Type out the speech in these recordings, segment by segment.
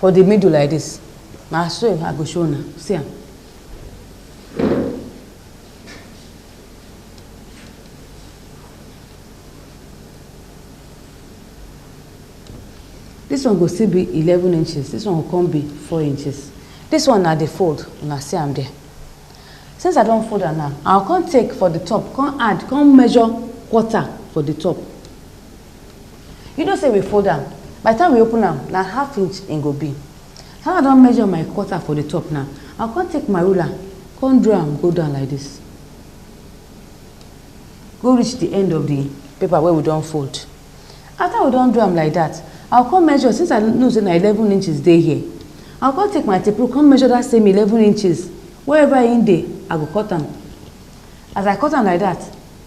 for the middle like this na so i go show una see am this one go still be eleven inches this one go come be four inches this one na the fold una see am there since i don fold am now i go come take for the top come add come measure quarter for the top You know say we fold am, by the time we open am, na half inch e go be. How I don measure my quarter for the top now, I come take my ruler, come draw am go down like this. Go reach the end of the paper wey we don fold. After we don do am like that, I come measure, since I know say na eleven inches dey here, I come take my tape rule, come measure that same eleven inches, wherever e dey, I go cut am. As I cut am like that,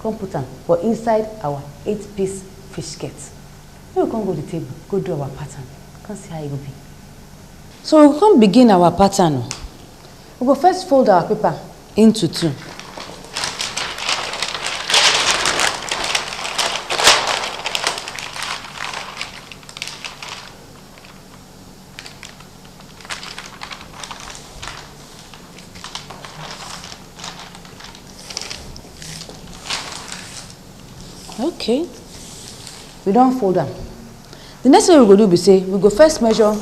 come put am for inside our eight piece fish skirt. Make we come go the table, go do our pattern, come see how e go be. So we come begin our pattern o. We go first fold our paper into two. okay we don fold am the next thing we go do be say we go first measure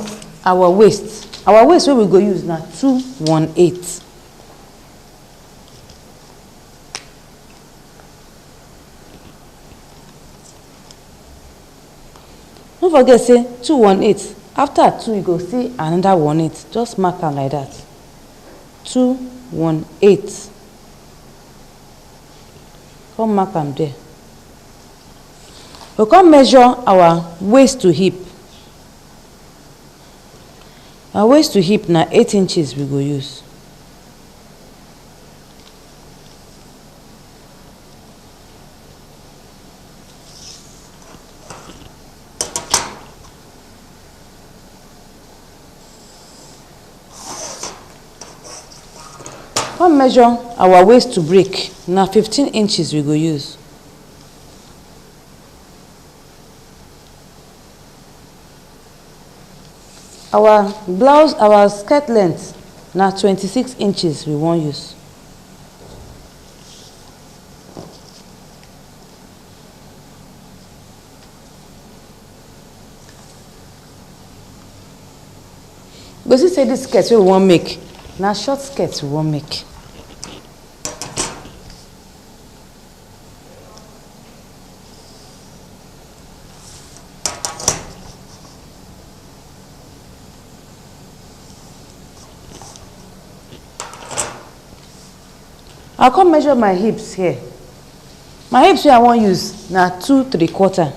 our waist our waist wey we go use na two one eight No forget say two one eight after two you go see another one eight just mark am like that two one eight come mark am there we come measure our waist to hip our waist to hip na eight inches we go use come measure our waist to break na 15 inches we go use our blouse our skirt length na 26 inches we wan use go see say this skirt wey we wan make na short skirt we wan make I come measure my hips here. My hips wey I wan use na two three quarter.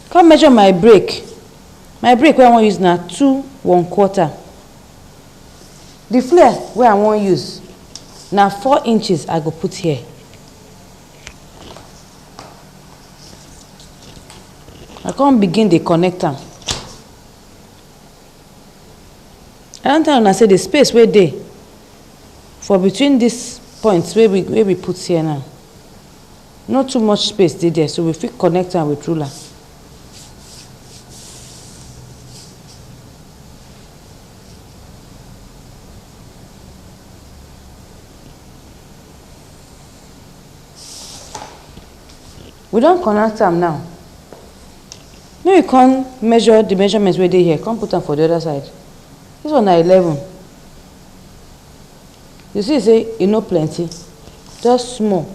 Come measure my break. My break wey I wan use na two one quarter. The flare wey I wan use na four inches I go put here. I come begin dey connect am. I don tell una say the space wey dey for between this points wey we wey we put here now no too much space dey there so we fit connect am with ruler We don connect am now. Make we come measure the measurement wey dey here, come put am for the other side. This one na eleven. You see say e no plenty, just small.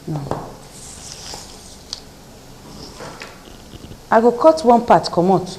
Now, I go cut one part comot.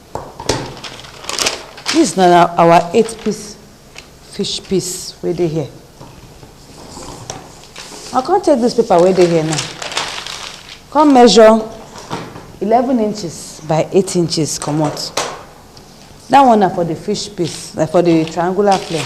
Dis na na our eight piece fish piece wey dey here. I come take dis paper wey dey here now, come measure eleven inches by eight inches comot. Dat one na for de fish piece, na for de triangular flare.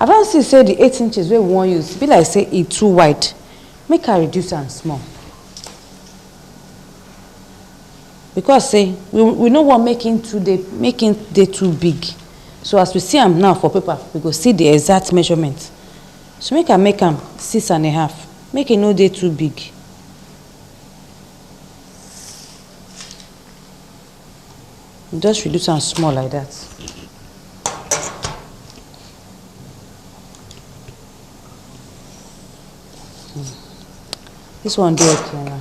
i don see say the eight inches wey we wan use be like say e too wide make i reduce am small because say we we no wan make him too dey make him dey too big so as we see am now for paper we go see the exact measurement so make I make am six and a half make e no dey too big just reduce am small like that This one dey okay now.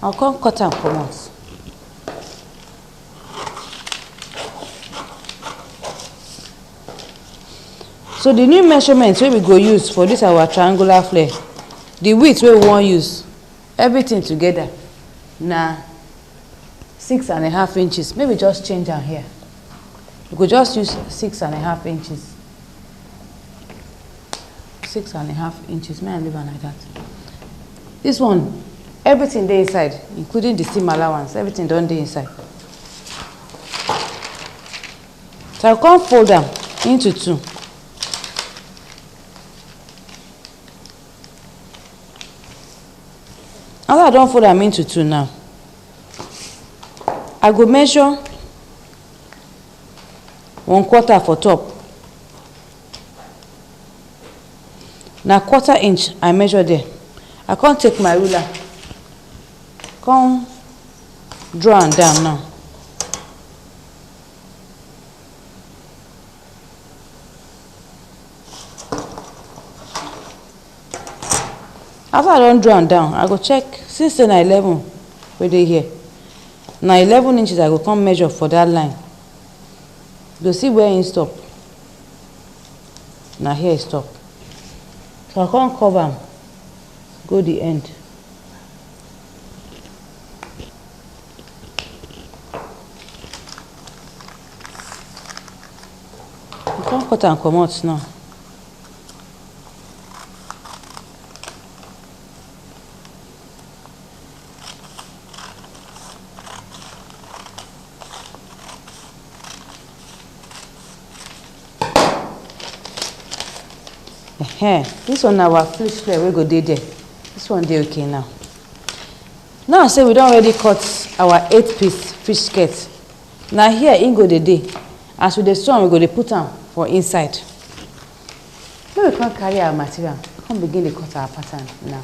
I'll come cut am comot. So the new measurement wey we go use for this our triangular flare, the width wey we wan use, everything together na six and a half inches. Make we just change am here. We go just use six and a half inches. six and a half inches may i leave am like that this one everything dey inside including the steam allowance everything don dey inside so i come fold am into two after i don fold am into two now i go measure one quarter for top na quarter inch i measure there i come take my ruler come draw am down now after i don draw am down i go check since say na eleven wey dey here na eleven inches i go come measure for that line you go see where him stop na here e stop so I come curve am go the end I come cut am comot now Ehen, this one na our fish fillet wey go dey there. This one dey okay now. Now say we don already cut our eight piece fish skirt. Na here im go dey dey. As we dey sew am, we go dey put am for inside. Make we come carry our material, come begin dey cut our pattern now.